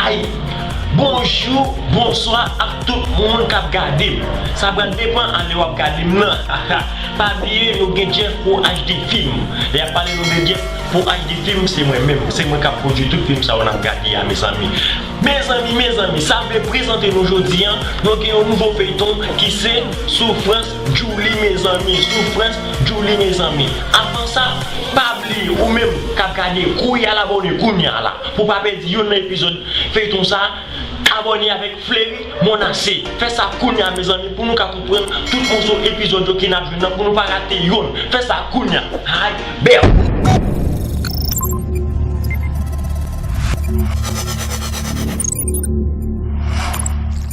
Ayy Bonjou bonswa ak tout moun kap gadem sa pral depan a lè wap gadem nan haha pa bliye nou gen Jeff pro HD film lè ap pale nou de Jeff pro HD film se mwen menm se mwen kap pwodwi tout film sa yo nap gade a mezanmi mezanmi mezanmi sa vle prezante nou jodi an nou gen yon nouvo feyton ki se soufrans. Djouly mezanmi soufrans djouly mezanmi avan sa pa bliye ou menm kap gade kouri al abòne kounya la pou pa pèdi yonn nan epizòd feyton sa abòne avèk fleury monase fè sa kounya mezanmi pou nou ka konprann tout moso epizòd yo ki nap jwenn nan pou nou pa rate yonn fè sa kounya hay bèw.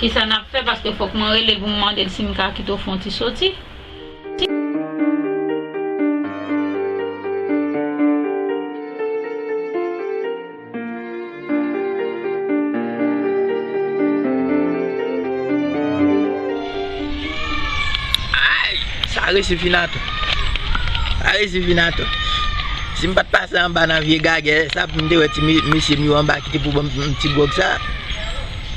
Kisa nap fè paske fok mwen rele poum mandel sim ka kite w fon ti soti. Ayy sa resi fin ato. Sa resi fin ato. Sim pat pase anba nan vye gagè sa poum te wè ti mesye m yo anba kite pou banm ti gwòg sa.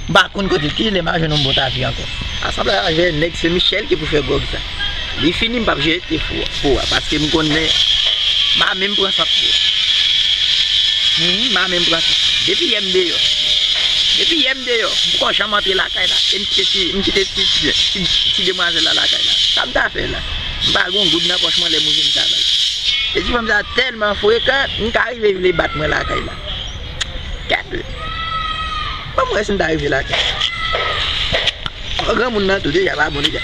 M pa konn kote kilè ma jwenn yon bon tapi ankò. Asanblay la jè nèg se Michel ki pou fè gòg sa. Li fini m pap jwe te fou a paske m konnen ma menm pran sant pou. Humm ma menm pran sant. Depi yè m deyò. Depi yè m deyò. M poko janm antre lakay la. E m kite ti m kite ti ti demwazèl la lakay la. Sa m ta fè la. M pa gon goud nan pòch mwen lè m ouvri m ta bal. E ti fanm sa tèlman frekan m ka rive vle bat mwen lakay la. Gade. Bon mwen si m ta rive la kay la. Bon granmoun nan tou deja pa bon deja.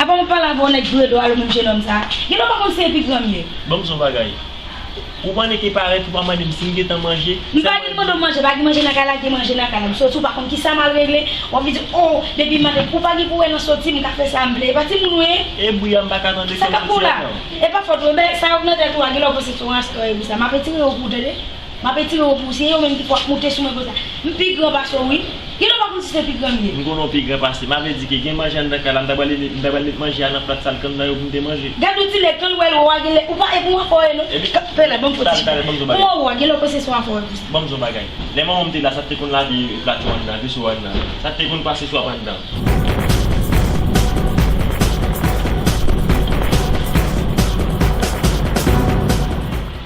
A banm palavre yon nèg joure do a lè menm jenòm sa. Gen lè ou pa konn si e pi granm ye. Banm son bagay. Ou panne ki parèt ou pa mandem sim gentan manje, M pa vin mande w manje, pa gen manje nan kay la gen manje nan kay la, m soti ou pa konn kisa mal regle, wap vin di oh depi m mande ou pa gen pou wè nan soti m ka fè sa m vle, e pa timoun ou ye, E bri a m paka tande sa kap fè w la, e pa fòt ou, e bèy sa yo k nan tèt ou a gen lè ou panse se yon rasta ou ye pou sa, m ap etire ou pou w tande. M ap etire yo pou ou. Se yo menm ki pou ap moute sou mwen konsa. M pi gran pase w wi. Gen lè w pa konn si se pi gran m ye. M konnen w pi gran pase m. Avle di ke gen manje anndan kay la, m ta pral leve, m ta pral met manje a nan plat sal kan m nan yo pou m te manje. Gad yon ti nèg kan l wè lwo a gen lè ou pa e pou anfò e non. Epi. Fè la, ban m fò ti chita. Pou wè ou a, gen lè ou panse se w anfò e pou sa. Ban m di w yon bagay. Lè manman m te la, sa te konn lave plato anndan, veso anndan. Sa te konn pase swap anndan.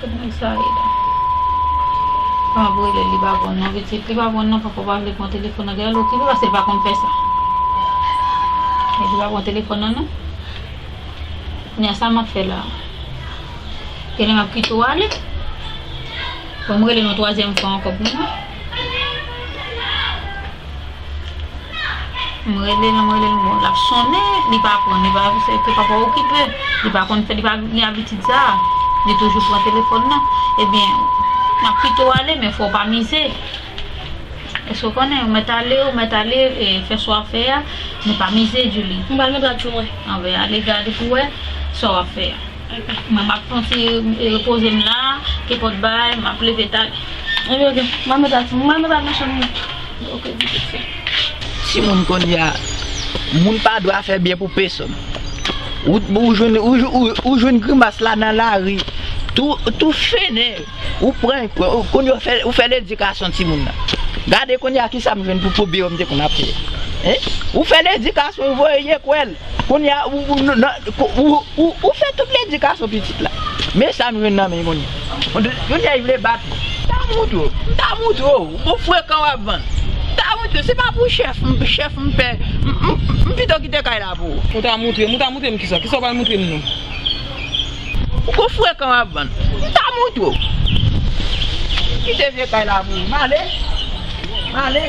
Koman sa ye la. Pap relel li pa bon non pitit li pa bon non papa pa vle pran telefon nan genlè l okipe paske l pa konn fè sa men li pa pran telefon nan non kounya sa map fè la genlè map kite w ale fòm rele l yon twazyèm fwa ankò pou mwen. M rele l m rele l bon lap sonnen li pa pran li pa se ke papa okipe li pa konn fè li pa gen abitid sa li toujou pran telefòn nan ebyen map pito ale men fò w pa mize èske w konnen ou mèt ale ou mèt ale fè sa w ap fè a men pa mize Julie m pral montre w ak je mwen anben ale gade pou w wè sa w ap fè a. Mwen ap panse e repoze m la, kepòt bay, m ap leve ta. Epi ok, m ap met a ti. M al met a nan chanm li. Ok, di tout sa. Timoun kounye a, moun pa dwa fè byen pou pesonn. Ou jwenn grimas la nan lari, tou fennen, ou pran, kounye a ou fè ledikasyon timoun nan. Gade kounye a kisa m jwenn pou pwoblem yo m te konn ap fè. Ou fè ledikasyon, ou voye lekòl. Kounya ou fè tout ledikasyon pitit la. Men sa nou jwenn nan men kounya. Kounya li vle bat ou. Mta montre w, mta montre w, ou gon frekan wap vann. Mta montre w, se pa pou chèf m, chèf m pè, m pito kite kay la pou ou. Ou ta montre m, ou ta montre m kisa, kisa w pral montre m nou. Ou gon frekan wap vann. Mta montre w. M kite vye kay la pou ou, m ale, m ale.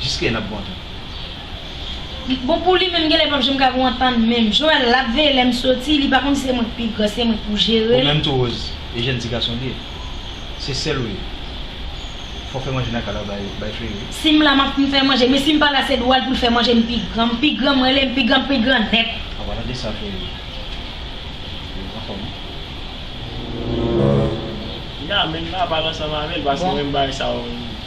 jiskilè nap gou antann. Bon pou li menm genlè pap janm ka gou antann menm Joel lap veye lèm soti li pa konn si se mwen ki pi gran se mwen pou jerel. Ou menm tou Rose e jèn ti gason liye se sèl ou ye fò fè manje nan kay la bay fleuri wi. Sim la map fè manje men sim pala se dwal poul fè manje mpi gran mpi gran mwen relem pi gran mpi gran nèt. A wa tande sa fleuri Rose anfòm wi. Yah menm papa l ansanm avèl paske menm bagay sa yo.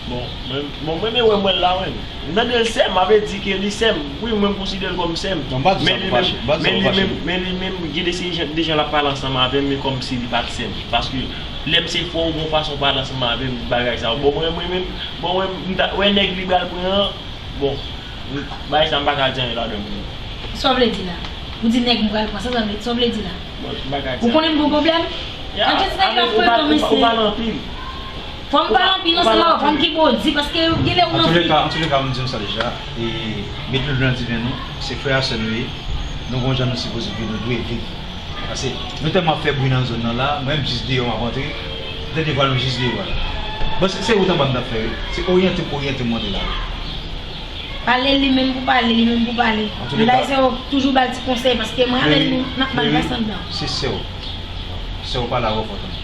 Bon mwen renmen wè mwen la wi. M tande l sèm avle di ke li sèm wi mwen m konsidere l kòm sèm men li menm gen de seri de jan lap pale ansanm avèm e kòmsi li pat sèm paske lèm se fwa ou gon fason w pale ansanm avèm bagay sa bon mwen mwen menm bon mwen m ta wè nèg li bal pran an bon bagay sa m paka di anyen ladanm vre. Sa w vle di la? Ou di nèg m pral pran sa sa w vle di la? Ou konnen m gon pwoblèm? An kèt nèg lap pran kòm sèm? Ou pale anpil. Fòm pale anpil nan sèlman vann ki bo di paske genlè ou nan fi. An touleka m di nou sa deja e met lwil nan diven nou se frè a sè nou ye nou gon jan nou sipoze viv nou dwe viv pase nou tèlman ap fè bri nan zòn nan la mwen menm jis deyò map antre m tande vwa nou jis deyò a la bon se wout anba m tap fè wi se oryante m oryante m monte lari. Pale li menm pou pale li menm pou pale m bay sè w toujou bal ti konsèy paske mwen avèl nou nap mal pase andan. Si sè w sè w pale avè w fò w tande.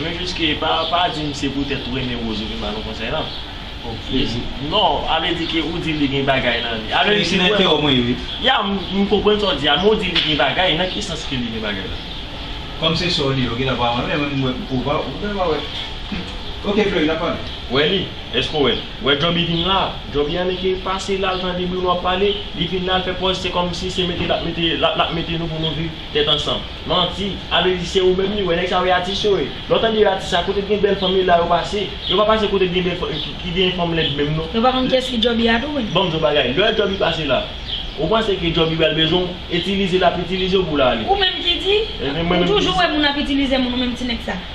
Mwen jis ke pa dim se pou tèt ou renmen Rose ou vin ba nou konsèy nan. Ou kreze. Non, ale di ke ou di li gen bagay nan li. Ale di mwen. Fè mwen ri. Ya, m konprann sa w di a, men ou di li gen bagay, nan ki sans ke li gen bagay la? Kòm se sè w li ye, ou gentan pa renmen menm mwen m pwouve w, ou gentan pa wè. Ok Fleury, n ap pale. Wè li? Èske w wè l? Wè Jòby vin la a? Jòby an eke pase la al tande Bruno ap pale, li vin la al fè pòz se kòmsi se mete l ap mete l ap mete nou pou nou viv tèt ansanm. Manti. Abedi se ou menm li wè nèg sa yo e atis yo ye. Lè w tande yo atis sa kote t gen bèl fanm e la yo pase. Yo pa pase kote t gen bèl fanm ki gen fanm lèd menm non. Nou pa konn kiyès ki Jobby a tou vre. Banm di w bagay lè Jobby pase la ou panse ke Jobby pral bezwen w etilize lap etilize w pou w ale. Ou menm ki di? Ou toujou wè moun ap itilize moun ou menm ti nèg sa.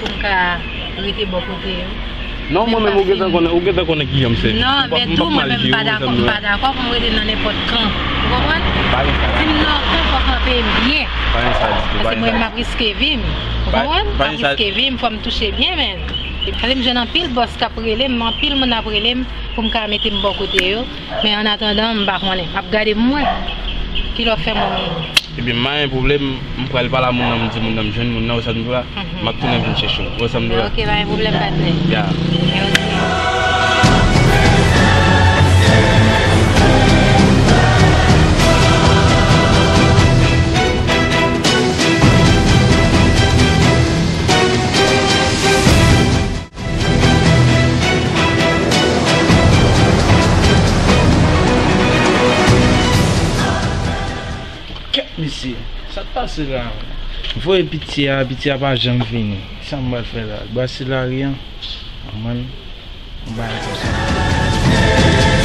Pou m ka rete bò kote yo. Non mwen menm ou gentan konnen ou gentan konnen kijan m se. Non men tou mwen menm m pa dakò m pa dakò pou m rete nan nenpòt kan ou konprann. Pa gen sa. Si m nan yon kan fòk mwen peye m byen. Pa gen sa ditou. Paske mwen menm m ap riske vi m ou konprann. Pa gen sa. M ap riske vi m fò m touche byen men. Tande m jwenn anpil bòs k ap rele m anpil moun ap rele m pou m ka mete m bò kote yo. Men an atandan m pa konnen. M ap gade pou m wè ki lè w fè moun moun. Ebyen m mayen pou vle m. M pral pale a moun nan m di moun nan m jwenn moun nan, wè sa m di w la. M ap tounen vin chèche w. Wè sa m di w la. Ok, pa gen pwoblèm patnè. Ya. Ya oke. Kèt mesye, sa k pase la a menm? M voye pitye a, pitye a pa janm vini. Ki sa m pral fè la a? Brase lari an? Aman, yon bagay konsa m pral fè.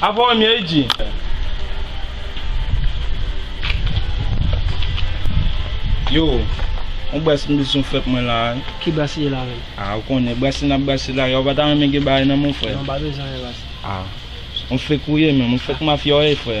Avò anmyè yi di. Yo, on brase m bezwen w fèt mwen la a. Ki brase ye la menm? A, ou konnen, brase n ap brase la a, ya ou pa ta renmen gen bagay nan men w frè? Non, m pa bezwen anyen brase. A, on fek ou ye menm, on fek mafya w ye frè.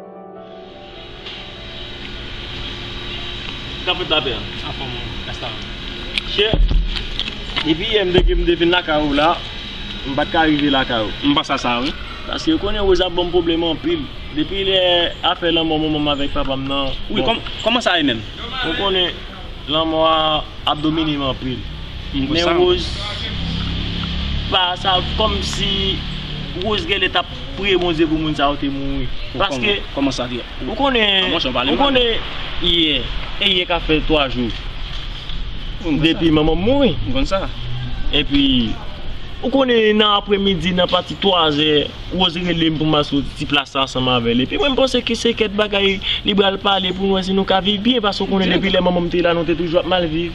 Kap fèt la pè? Anfòm ou? Esta ou? Chè, depi yè m te di m te vin lakay ou la, m pa t ka rive lakay ou. M panse a sa wi. Paske ou konnen Roz ap ban m pwoblèm anpil. Depi lè afè lanmò manman m avèk papa m nan, bon. Wi, kòman sa ye menm? Ou konnen, lanmò a ap domine m anpil. M konsa. Men Roz, pa sa, kòmsi Roz genlè t ap. priye bondye pou moun sa yo te mouri paske ou konnen yè e yè ka fè 3 jou depi manmanm mouri epi ou konnen nan apre midi nan pati 3 zè rose relem pou ma sot ti plas sa ansanm avèl epi mwen panse ki se kèt bagay li bal pale pou nou wè si nou ka viv byen paske ou konnen depi lè manmanm te la nou te toujou ap mal viv.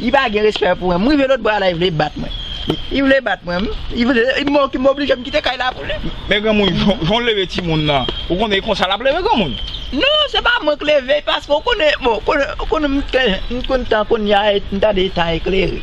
Li pa gen respè pou mwen. M rive lotbò a la li vle bat mwen. Li vle bat mwen. M oblije m kite kay la pou li. Men granmoun jan w leve timoun nan ou konnen e konsa l ap leve granmoun? Non se pa mwen k leve l paske ou konnen bon ou konnen m t konn tan kounya m tande tan eklere.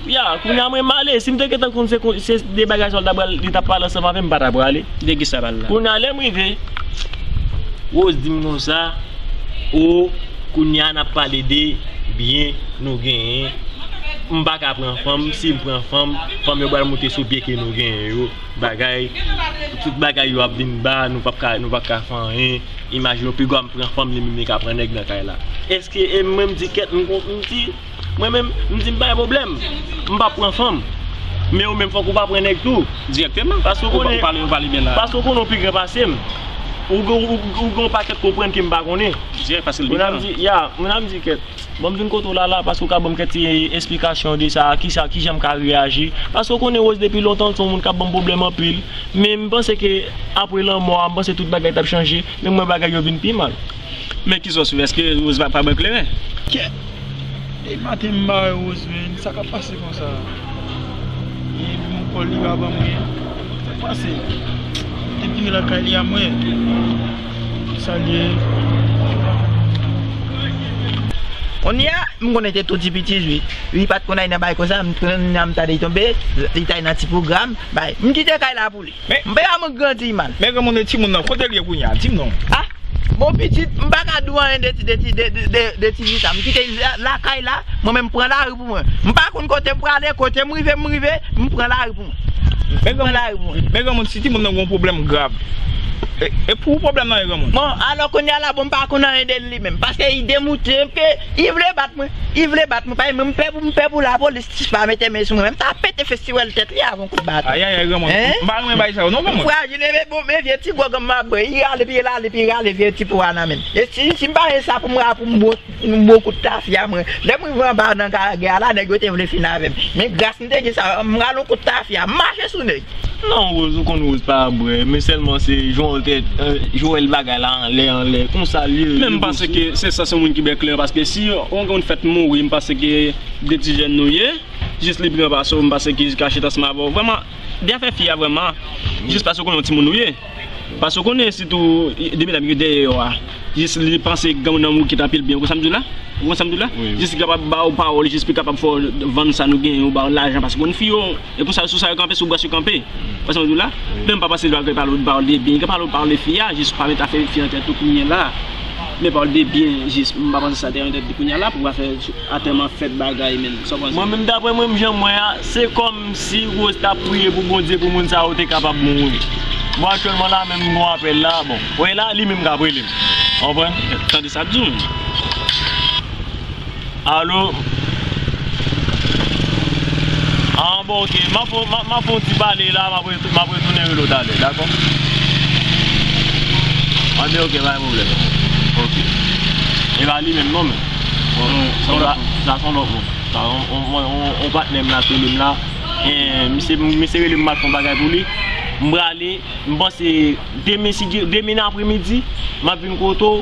Ya, kounya mwen m ale, si m te gentan konn se kon, se de bagay sa yo l ta pral, li t ap pale ansanm avè m, m pa ta prale. De ki sa pale la? Kounya lè m rive, Rose di m konsa, O, kounya n ap pale de byen nou genyen, m pa ka pran fanm, si m pran fanm, fanm yo pral moute sou byen ke nou genyen yo, bagay, tout bagay yo ap vin ba, nou p ap ka, nou p ap ka fè anyen, imajine w pi gwa m pran fanm li menm li ka pran nèg nan kay la. Èske, e mwen m di kèt, m kon, m di. Mwen menm, m di m pa gen pwoblèm. M p ap pran fanm. Men ou menm fòk ou pa pran nèg tou. Dirèkteman. Paske ou konnen. Ou pale, ou pale byen la. Paske ou konnen ou pi gran pase m. Ou gen yon pakèt konprann ke m pa konnen. Dirèk paske l pi gran. Ya, mwen ap di kèt. Ban m vin kote w la la paske ou ka ban m kèt ti esplikasyon de sa, ki sa, ki jan m ka reyaji. Paske ou konnen Rose depi lontan l se yon moun k ap ban m pwoblèm anpil. Men m panse ke apre lanmò a, m panse tout bagay t ap chanje. Men m wè bagay yo vin pi mal. Men ki sos wi eske Rose pa pran kleren. Kèt! Depi maten m bare Rose menn, sa kap pase konsa? Li di m kòl li pa banm anyen. Sak pase? Li te vire lakay li a mwen. Sa li ye? Konnya m konnen te tou ti pitit wi. Li pat konn ay nan bagay konsa, m t konn nan m ta de tonbe, li t ay nan ti pwogram, bagay. M kite kay la pou. Men m paka mwen grandi mal. Men granmoun e timoun nan kotel ye kounya dim non. Ah bon pitit m paka diw anyen de de ti vi sa m kite lakay la mwen menm m pran lari pou mwen m pa konn kote m prale kote m rive m rive m pran lari pou mwen. Men granmoun si timoun nan gon pwoblèm grav e pou ou pwoblèm nan ye granmoun. Bon alò kounya la bon m pa konn anyen de li menm paske li demoute m ke li vle bat mwen li vle bat mwen paske mwen m pè pou m pè pou lapolis. Sis pa mete men sou mwen m ta pete festiwèl tèt li avon kout baton. Ayayay granmoun m pa renmen bagay sa yo non granmoun. Frajil e bon men vye ti gwo granmoun ap bwe, i rale pi l ale pi rale vye ti po a nan men l. E si si m pa gen sa pou m rale pou m bwot yon bon kout tafya mwen. Lè m rive anba nan Karagè a la nèg yo te vle fin avè m. Men gras m te gen sa m rale yon kout tafya m mache sou nèg. Non Rose ou konn Rose pa bwè men sèlman se Joel te Joel bagay la anlè anlè konsa l ye. Men m panse ke se sa se moun ki bèk lè paske si yon moun fèt mouri m panse ke. 2 ti jèn nou ye jis li pran pase w m pase ki kache tansman avè w vrèman byen fè fi a vrèman jis pase w konnen yon timoun ou ye pase w konnen sitou 2 medam ki dèyè yo a jis li panse gen w nan men w kit anpil byen ou konn sa m di w la ou konn sa m di w la jis li kapab ba w pawòl jis li kapab fè w vann sa nou genyen ou ba w lajan pase w konn fi yo. E pou sa sou sa yo kanpe sou bras yo kanpe wè sa map diw la menm pa pase lwa gen pale pawòl de byen gen pale pawòl de fi a jis pa met afè fi an tèt ou kounye la men pawòl de byen jis m pa panse sa te an tèt li kounye la pou afè atèman fèt bagay menm sa w panse. Mwen menm daprè mwen janm wè a se kòm si Rose tap priye pou Bondye pou moun sa yo te kapab mouri bon aktyèlman la menm m gon apèl la bon wè la li menm kap rele m ou konprann. Tande sa ap diw. Alo An bon ok M ap fè yon ti pale la M ap retounen rele w talè dakò An bien ok pa gen pwoblèm Ok E pa li menm non men Sa son lòt moun Yon patnè m la ki rele m la Misye rele m m al fè yon bagay pou li M prale M panse demen apremidi M ap vin kote w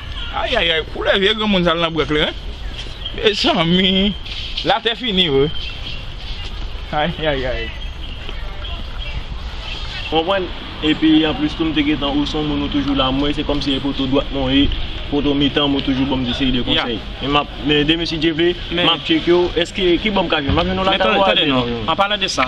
Ayayay koulè vye granmoun sa al nan brank li wi mezanmi latè fini vre ayayay. Konprann epi anplis tou m te gentan ou son moun ou toujou la mwen se kòmsi e poto dwat mwen ou ye poto mitan m ou toujou banm de seri de konsèy e map Men demen si Dye vle, m ap tcheke yo, èske, ki bò m ka jwenn? M ap jwenn yon lakay ou a demen? Men tande non, an palan de sa,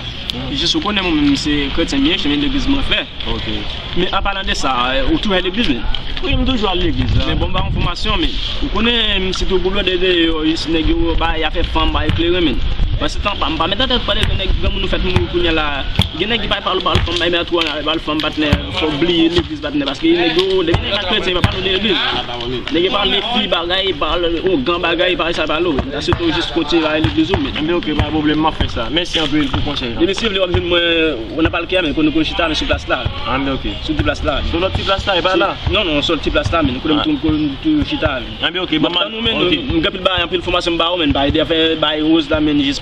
jis ou konnen mwen menm se kretyen m ye, se yon legliz mwen fè. Ok. Men an palan de sa, ou toujou al legliz menm? Wi, m toujou al legliz. Men bon m pa yon fòmasyon menm. Ou konnen, sitou pou blòdè deyò, jis nèg yo bay afè fanm, bay kleren menm. Mwen se tan pa m, m pa met nan tèt m pale de nèg granmoun nou fèt mouri kounya la. Gen nèg ki bay pale ou pale fanm, bay mè twò, bay pale fanm patnè, fò w bliye legliz patnè paske nèg yo, depi nèg pa kretyen yo pa pale w de legliz. Nèg yo pa met pi bagay epa ougan bagay epa sa epa lo sa se tou jis kontinye bay legliz ou men. Enben ok pa pwoblèm map fè sa. Mèsi anpil pou konsèy la. Depi si vle wap jwenn mwen ou nan palke a men kote nou konn chita men sou plas la. Anben ok. Sou ti plas la. Sou lòt ti plas la epa la. Non non sou lòt ti plas la men kote nou toujou chita a men. Anben ok banm. Map tann ou men nou gen anpil bagay anpil fòmasyon m ba ou men m pa ede fè bay rose la men jis.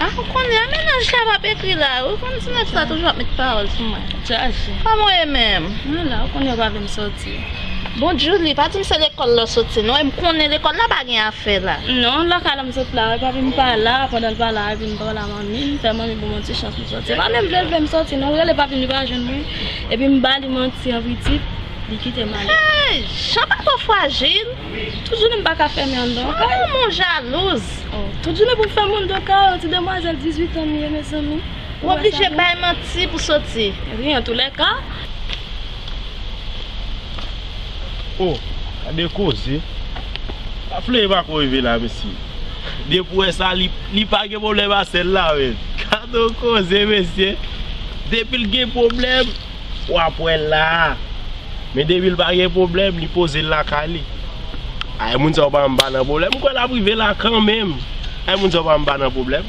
Ah ou konnen a menaj la pap ekri la ou konnen ti nèg sa toujou ap met pawòl sou mwen jaje kòman ou ye menm mwen la ou konnen yo pa vle m sòti bon djoulie pa di m se lekòl lè w sòti non e m konnen lekòl la pa gen afè la non lakay la m sot la wè papi m pa la pandan l pa la epi m pa wè manmi m fè manmi ban m yon ti chans m sòti se pa menm vle l vle m sòti non m rele papi m li pa jwenn mwen epi m ba li manti an pitit li kite m ale. Hey Jan pa fò frajil. Tout jounen m pa ka fèmen anndan yon kay. Ou menm ou jalouz. Tout jounen pou m fèmen anndan kay yon ti demwazèl 18 an m ye mezanmi. Ou oblije bay manti pou soti. Wi antoulèka. Oh gade koze. Afle pa ko rive la mesye. Depi ou wè sa li pa gen pwoblèm a sèl la menm. Gade yon koze mesye. Depi l gen pwoblèm. Wap wèl la Men depil pa gen pwoblèm li pozel lakay li Ay moun sa yo pa anba nan pwoblèm Mkwè lap rive la kanmenm Ay moun sa yo pa anba nan pwoblèm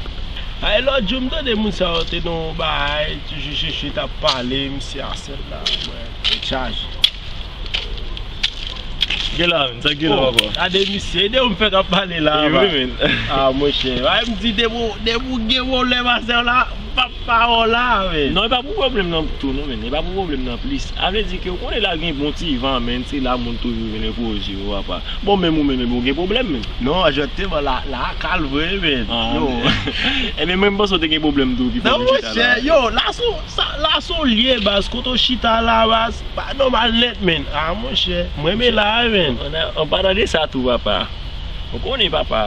Ay lòt jou mtande moun sa yo te nan yon baay Toujou Sheshe tap pale misye a sèl la mwen Tèt chaje Gela men sa gela papa Oh gade misye Gade yon fèk ap pale la Ewi men Aah monchè Ay mdi depi ou gen pwoblèm a sèw la Papa hola men. Non e pa pou problem nan tou non men e pa pou problem nan plis a vle di ke ou konnen la gen bon ti van men se la moun toujou vin enpoze yo apa bon menm ou menm epi ou gen problem menm. Non ajòtè bon la la kal vre men yow. Ebyen mwen m panse ou te gen problem tou ki fè ou vin chita la. Non monchè yow la son sa la son lye baz kote ou chita la baz pa nòmal nèt men a monchè m renmen la a men. An padan de sa tou papa ou konnen papa.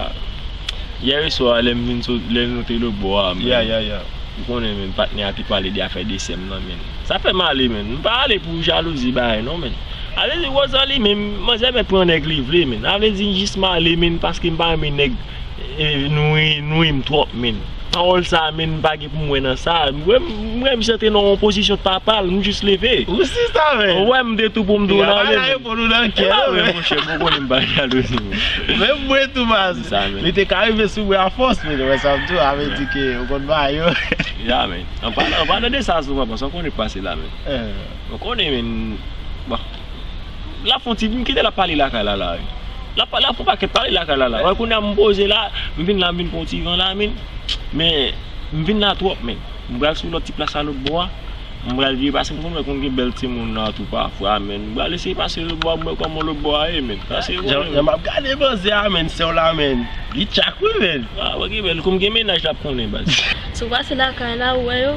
Yè swa lè m vin sot lè nou te lobò a menn ou konnen menn patnè a te pale de afè desè m nan menn sa fè m ale menn m pa ale pou jalouzi bagay non menn avle di Rosalie menm manzè mèt pran nèg li vle menn avle di m jis m ale menn paske m pa renmen nèg e nou nou ri m twòp menn pawòl sa menn m pa M wè nan sa, m wè m wè misye te nan yon pozisyon papa l, m jis leve. Ou si sa menm? Ou wè m de tou pou m di w nan ale menm. Epa reponn ou nan kè non menm. Monchè m konnen m pa jalouzi non. Menm mwen tou baz. Se sa menm. Li te ka rive sou mwen a fòs men ou wè sa m di w sa vle di ke ou konn bagay yo. Ya men. An palan de sa souvan paske ou konnen k pase la menm. Ou konnen menm bon. lap fon ti bri kite lap pale lakay la la wi lap pale pou pakèt pale lakay la la wè kounya m poze la m vin la m vin pran yon ti van la menn men m vin la twòp menn m pral sou lòt ti plas la lòt bò a m pral vire pase m konn wè konn gen bèl timoun nan tou pafwa menn m pral eseye pase lòt bò a m wè kòman lòt bò a ye menn pase m wè jan map gade manzè a menn sè w la menn li tchak wi menn a wè ki bèl kòm gen mennaj lap konnen baz. Si w pase lakay la ou wè yo.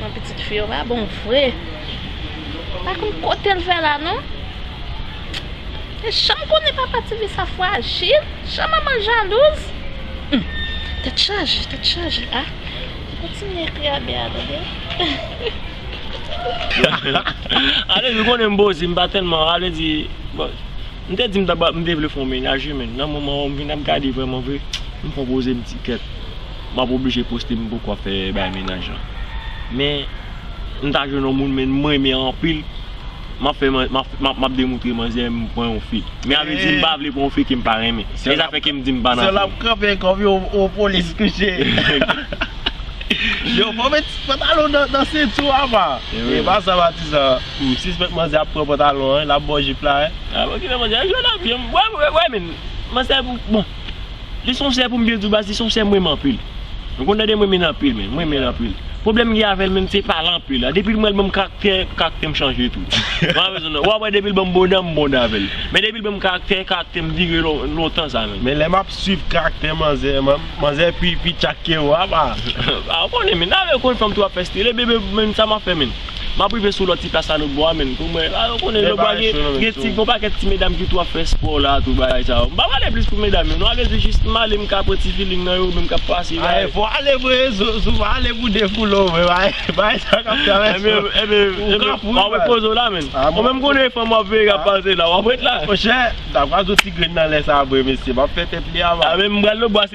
Nan pitit fi yo pa bon vre. Pa konn kotel fè la non. Li janm konnen papa tifi sa frajil, jan manmanl jalouz. Humm tèt chaje tèt chaje a. Mwen kontinye ekri a bea tande. Alezi konnen m bozi m pa tèlman alezi bon. M te di m tap m te vle fon mennaj wi men nan moman an m vin ap gade vreman vre m pran poze m di kèt map oblije poste m poko ap fè bagay mennaj lan men m ta jwenn yon moun men m renmen anpil map fè map demontre manzè m pran yon fi men a vle di m pa vle pran yon fi kem pa renmen se zafè kem di m pa nan fè. Sèl ap kanpe kòm yon polis kouche. Yo fò met pantalon nan senti w apa. Epa sa patizan. M sispèk manzè ap pran pantalon an, lap baw jip la wi. Ah bon kilè manzè, jwè nan pyem, wè wè menn, manzè pou, bon Li son sè poum byen diw baz li son sè m renmen anpil Nou konn tandem renmen anpil menn, m renmenl anpil Pwoblèm m gen avèl menm se pale anpil la, depil m wèl banm karaktè, karaktèm chanje tou Wap wè depil banm bon dan, m bon dan avèl Men depil banm karaktè, karaktèm vire lontan sa menn. Men lè map swiv karaktè manzè, manzè pi pi tchak kew apa. Ah ou konnen menn, ah lèw konn fanm tou wap fè style, bebe menn sa map fè menn. Map rive sou lòt ti plas la nou bò a menn tou mwen la ou konnen lòt bò a gen ti gon pakèt ti medam ki tou ap fè spò la tou bagay sa yo. M pa pale plis pou medam yo non ale di jis m ale m ka pran ti feeling nan yo menm k ap pase bagay. Ae fò ale vre Zoufa ale pou de foule w vre bagay sa kap travèse w. Enben enben wap ret poze w la menn ou menm konnen fanm wap veye kap pase la wap ret la. Monchè m ta pran yon ti grenn nan lè sa vre mesye map fè tèt li a man. Ae m pral lòt bò a.